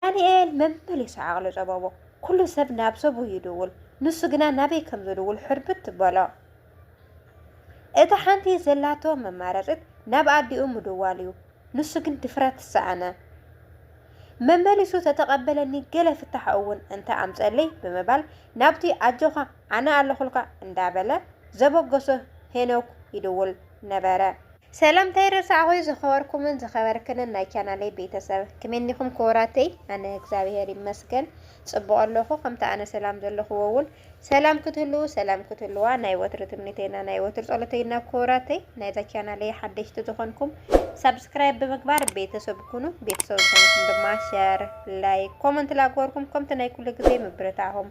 ዳንኤል መመሊሱ ዓቕሉ ጸበቦ። ኩሉ ሰብ ናብ ሰቡ ይድውል፣ ንሱ ግና ናበይ ከም ዝድውል ሕርብት በሎ። እታ ሓንቲ ዘላቶ መማረጺት ናብ ኣዲኡ ምድዋል'ዩ፣ ንሱ ግን ድፍረት ሰኣነ። መመሊሱ ተተቐበለኒ ገለ ፍታሕ'ውን እንተ ኣምጸለይ ብምባል ናብቲ ኣጆኻ ኣነ ኣለኹልካ እንዳበለ ዘበገሶ ሄኖክ ይድውል ነበረ። ሰላምታይ ረሳዕኹ ዝኸበርኩምን ዝኸበርክንን ናይ ቻናለይ ቤተሰብ ክሜኒኹም ክቡራተይ ኣነ እግዚኣብሔር ይመስገን ፅቡቕ ኣለኹ ከምቲ ኣነ ሰላም ዘለኹዎ እውን ሰላም ክትህልው ሰላም ክትህልዋ ናይ ወትሪ ትምኒተይና ናይ ወትሪ ፀሎተይና ክቡራተይ ናይዛ ቻናለይ ሓደሽቲ ዝኾንኩም ሳብስክራይብ ብምግባር ቤተሰብ ኩኑ ቤተሰብ ዝኾንኩም ድማ ሸር ላይክ ኮመንት ላግበርኩም ከምቲ ናይ ኩሉ ግዜ ምብርታዕኹም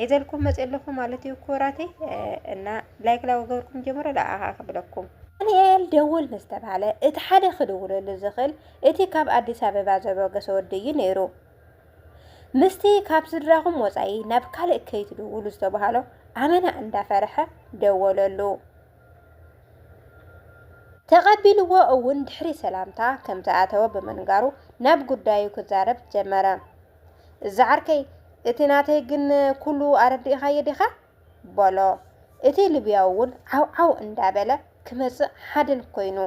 ሄዘልኩም መጽ ኣለኹ ማለት እዩ ክቡራተይ እና ላይክ ላው ገብርኩም ጀምሮ ለኣኻ ክብለኩም ዳንኤል ደውል ምስ ተባህለ እቲ ሓደ ክድውለሉ ዝኽእል እቲ ካብ ኣዲስ ኣበባ ዘበገሰ ወዲ እዩ ነይሩ። ምስቲ ካብ ስድራኹም ወፃኢ ናብ ካልእ ከይትድውሉ ዝተባሃሎ ኣመና እንዳፈርሐ ደወለሉ። ተቐቢልዎ እውን ድሕሪ ሰላምታ ከም ዝኣተወ ብምንጋሩ ናብ ጉዳዩ ክዛረብ ጀመረ። እዚ ዓርከይ እቲ ናተይ ግን ኩሉ ኣረዲእኻዮ ዲኻ? በሎ። እቲ ልብያዊ እውን ዓውዓው እንዳበለ ክመጽእ ሓደን ኮይኑ።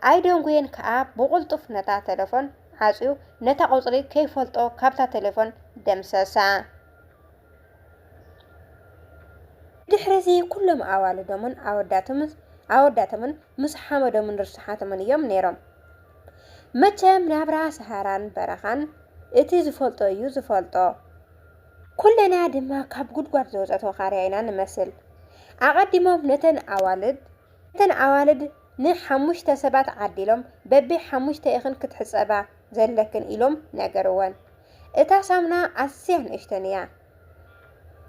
ኣይደንጉየን ከኣ ብቕልጡፍ ነታ ተለፎን ዓጽዩ ነታ ቁጽሪ ከይፈልጦ ካብታ ተለፎን ደምሰሳ። ድሕሪዚ ኩሎም ኣዋልዶምን ኣወዳቶምን ምስ ሓመዶምን ርሱሓቶምን እዮም ነይሮም። መቸም ናብራ ሰሃራን በረኻን እቲ ዝፈልጦ እዩ ዝፈልጦ። ኩልና ድማ ካብ ጉድጓድ ዝወፀት ወኻርያ ኢና ንመስል። ኣቐዲሞም ነተን ኣዋልድ ነተን ኣዋልድ ንሓሙሽተ ሰባት ዓዲሎም በቢ ሓሙሽተኢኽን ክትሕፀባ ዘለክን ኢሎም ነገርወን። እታ ሳሙና ኣዝያ ንእሽተን እያ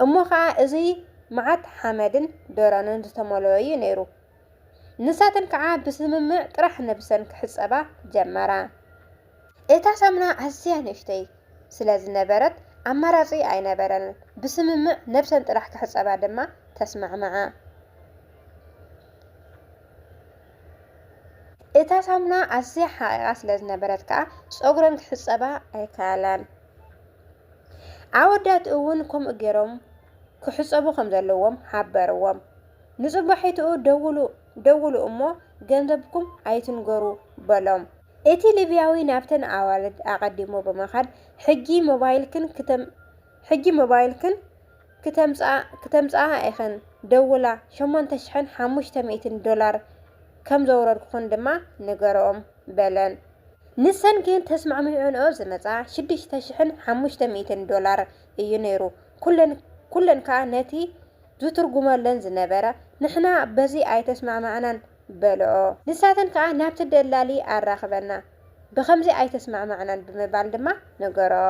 እሞ ኸኣ እዙይ መዓት ሓመድን ደሮንን ዝተመልኦ እዩ ነይሩ። ንሳተን ከዓ ብስምምዕ ጥራሕ ነብሰን ክሕጸባ ጀመራ። እታ ሳሙና ኣዝያ ንእሽተይ ስለ ዝነበረት ኣማራጺ ኣይነበረንን፣ ብስምምዕ ነብሰን ጥራሕ ክሕጸባ ድማ ተስማዕምዓ። እታ ሳሙና ኣዝያ ሓቒቓ ስለ ዝነበረት ከዓ ጸጉረን ክሕጸባ ኣይከኣላን። ኣወዳት እውን ከምኡ ገይሮም ክሕጸቡ ከም ዘለዎም ሓበርዎም። ንጽባሒትኡ ደውሉ ደውሉ እሞ ገንዘብኩም ኣይትንገሩ በሎም። እቲ ሊብያዊ ናብተን ኣዋልድ ኣቐዲሙ ብምኻድ ሕጂ ሞባይልክን ክተም ሕጂ ሞባይልክን ክተምጽኣ ክተምጽኣ ኢኽን ደውላ ሸሞንተ ሽሕን ሓሙሽተ ሚእትን ዶላር ከም ዘውረድኩኽን ድማ ንገርኦም በለን። ንሰን ግን ተስማዕሚዕንኦ ዝመጽኣ ሽዱሽተ ሽሕን ሓሙሽተ ሚእትን ዶላር እዩ ነይሩ። ኩለን ኩለን ከኣ ነቲ ዝትርጉመለን ዝነበረ፣ ንሕና በዚ ኣይተስማዕማዕናን በልኦ። ንሳተን ከኣ ናብቲ ደላሊ ኣራኽበና፣ ብኸምዚ ኣይተስማዕማዕናን ብምባል ድማ ነገርኦ።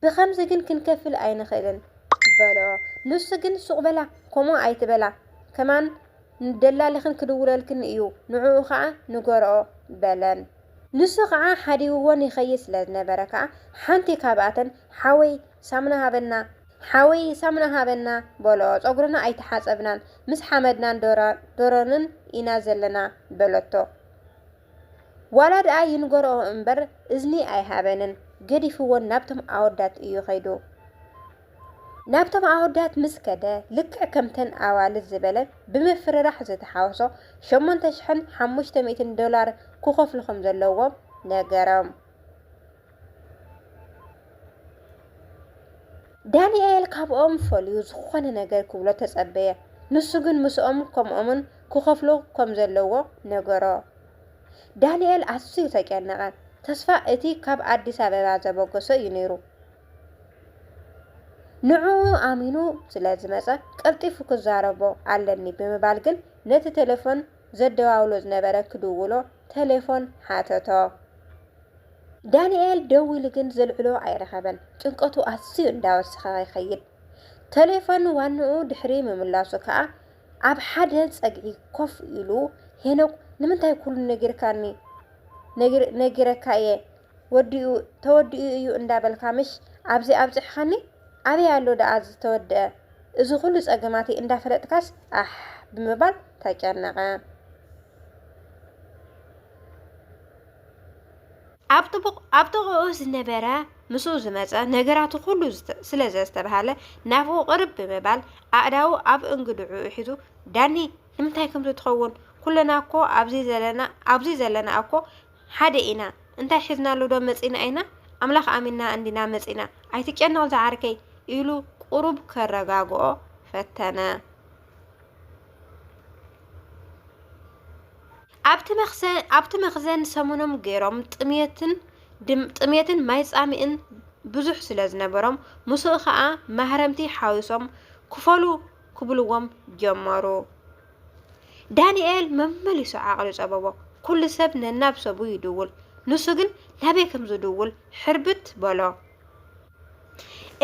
ብኸምዚ ግን ክንከፍል ኣይንኽእልን በልኦ። ንሱ ግን ሱቕ በላ፣ ከምኡ ኣይትበላ፣ ከማን ንደላልኽን ክድውለልክን እዩ፣ ንዕኡ ከኣ ንገርኦ በለን። ንሱ ከኣ ሓዲግወን ይኸይድ ስለ ዝነበረ ከኣ ሓንቲ ካብኣተን ሓወይ ሳምና ሃበና ሓወይ ሳምና ሃበና በሎ ጸጉርና ኣይተሓጸብናን ምስ ሓመድናን ዶሮንን ኢና ዘለና በለቶ ዋላ ድኣ ይንገርኦ እምበር እዝኒ ኣይሃበንን ገዲፍወን ናብቶም ኣወዳት እዩ ከይዱ ናብቶም ኣወዳት ምስ ከደ ልክዕ ከምተን ኣዋልድ ዝበለ ብምፍርራሕ ዝተሓወሶ ሸሞንተ ሽሕን ሓሙሽተ ሚእትን ዶላር ክኸፍሉ ከም ዘለዎም ነገሮም ዳንኤል ካብኦም ፈልዩ ዝኾነ ነገር ክብሎ ተጸበየ። ንሱ ግን ምስኦም ከምኦምን ክኸፍሎ ከም ዘለዎ ነገሮ። ዳንኤል ኣዝዩ ተጨነቐ። ተስፋ እቲ ካብ ኣዲስ ኣበባ ዘበገሶ እዩ ነይሩ። ንዕኡ ኣሚኑ ስለ ዝመጸ ቀልጢፉ ክዛረቦ ኣለኒ ብምባል ግን ነቲ ቴሌፎን ዘደዋውሎ ዝነበረ ክድውሎ ተሌፎን ሓተቶ። ዳኒኤል ደዊሉ ግን ዘልዕሎ ኣይረኸበን። ጭንቀቱ ኣዝዩ እንዳወሰኸ ይኸይድ። ተሌፎን ዋንኡ ድሕሪ ምምላሱ ከኣ ኣብ ሓደ ጸግዒ ኮፍ ኢሉ ሄኖክ ንምንታይ ኩሉ ነጊርካኒ ነጊረካ'የ ወዲኡ ተወዲኡ እዩ እንዳበልካ ምሽ ኣብዚ ኣብጽሕኻኒ ኣበይ ኣሎ ደኣ ዝተወደኣ እዚ ኩሉ ጸገማተይ እንዳፈለጥካስ ኣሕ ብምባል ተጨነቐ። ኣብ ጥቡቕ ኣብ ጥቕኡ ዝነበረ ምስኡ ዝመጸ ነገራቱ ኩሉ ስለ ዘስተብሃለ ናብኡ ቅርብ ብምባል ኣእዳዉ ኣብ እንግድዕኡ ሒዙ ዳኒ ንምንታይ ከምዚ ትኸውን ኩልና እኮ ኣብዚ ዘለና ኣብዚ ዘለና እኮ ሓደ ኢና እንታይ ሒዝናሉ ዶ መጺና ኢና ኣምላኽ ኣሚንና እንዲና መጺና ኣይትጨነቕ ዝዓርከይ ኢሉ ቁሩብ ከረጋግኦ ፈተነ። ኣብቲ መኽዘን ሰሙኖም ገይሮም ጥምየትን ጥምየትን ማይ ጻምእን ብዙሕ ስለ ዝነበሮም ምስኡ ከኣ ማህረምቲ ሓዊሶም ክፈሉ ክብልዎም ጀመሩ። ዳንኤል መመሊሱ ዓቕሉ ጸበቦ። ኩሉ ሰብ ነናብ ሰቡ ይድውል፣ ንሱ ግን ናበይ ከም ዝድውል ሕርብት በሎ።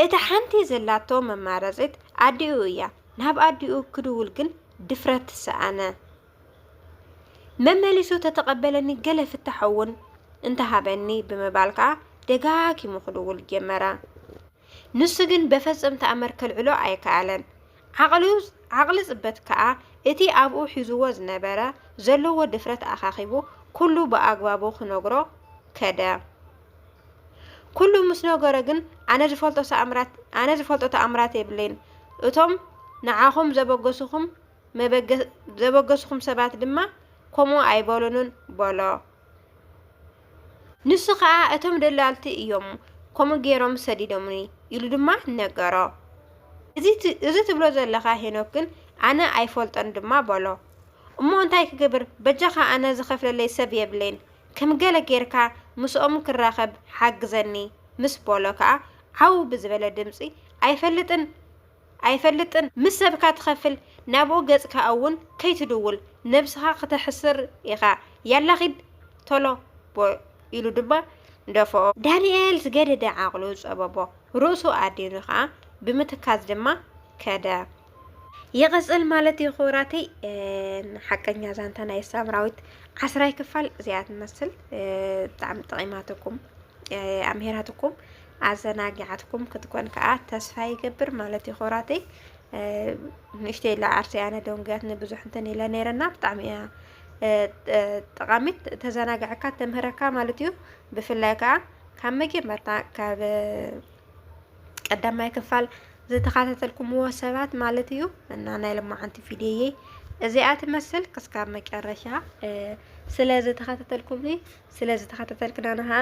እታ ሓንቲ ዘላቶ መማረጺት ኣዲኡ እያ፣ ናብ ኣዲኡ ክድውል ግን ድፍረት ሰኣነ። መመሊሱ ተተቐበለኒ ገለ ፍታሕ እውን እንተሃበኒ ብምባል ከኣ ደጋጊሙ ክድውል ጀመረ። ንሱ ግን በፈጽም ተኣምር ከልዕሎ ኣይከኣለን። ዓቕሉ ዓቕሊ ጽበት ከኣ እቲ ኣብኡ ሒዙዎ ዝነበረ ዘለዎ ድፍረት ኣኻኺቡ ኩሉ ብኣግባቡ ክነግሮ ከደ። ኩሉ ምስ ነገሮ ግን ኣነ ዝፈልጦ ተኣምራት ኣነ ዝፈልጦ ተኣምራት የብለይን እቶም ንዓኹም ዘበገሱኹም መበገ ዘበገሱኹም ሰባት ድማ ከምኡ ኣይበሉንን በሎ። ንሱ ኸኣ፣ እቶም ደላልቲ እዮም ከምኡ ገይሮም ሰዲዶምኒ፣ ኢሉ ድማ ነገሮ። እዚ ትብሎ ዘለኻ ሄኖክ ግን ኣነ ኣይፈልጦን ድማ በሎ። እሞ እንታይ ክገብር፣ በጃኻ ኣነ ዝኸፍለለይ ሰብ የብለይን፣ ከም ገለ ገይርካ ምስኦም ክራኸብ ሓግዘኒ ምስ በሎ ከኣ ዓው ብዝበለ ድምጺ፣ ኣይፈልጥን! ኣይፈልጥን ምስ ሰብካ ትከፍል ናብኡ ገጽካ ኣውን ከይትድውል ነብስካ ክተሕስር ኢካ ያላ ኪድ ቶሎ ቦእ ኢሉ ድማ ደፍኦ። ዳኒኤል ዝገደደ ዓቅሉ ጸበቦ ርእሱ ኣዲኑ ከኣ ብምትካዝ ድማ ከደ። ይቅጽል ማለት እዩ ክቡራተይ ን ሓቀኛ ዛንታ ናይ ሳምራዊት ዓስራይ ክፋል እዚኣ ትመስል ብጣዕሚ ጠቂማትኩም ኣምሂራትኩም ኣዘናጊዓትኩም ክትኮን ከኣ ተስፋ ይገብር ማለት እዩ ኮራተይ ንእሽተይ ኢላ ዓርሰይ ኣነ ደንጉያትኒ ብዙሕ እንትን ኢለ ነይረና ብጣዕሚ እያ ጠቃሚት ተዘናግዐካ ተምህረካ ማለት እዩ ብፍላይ ከዓ ካብ መጀመርታ ካብ ቀዳማይ ክፋል ዝተኸታተልኩምዎ ሰባት ማለት እዩ እና ናይ ልማዓንቲ ቪድዮዬ እዚኣ ትመስል ክስካብ መጨረሻ ስለ ዝተኸታተልኩምኒ ስለ ዝተኸታተልክና ንኸዓ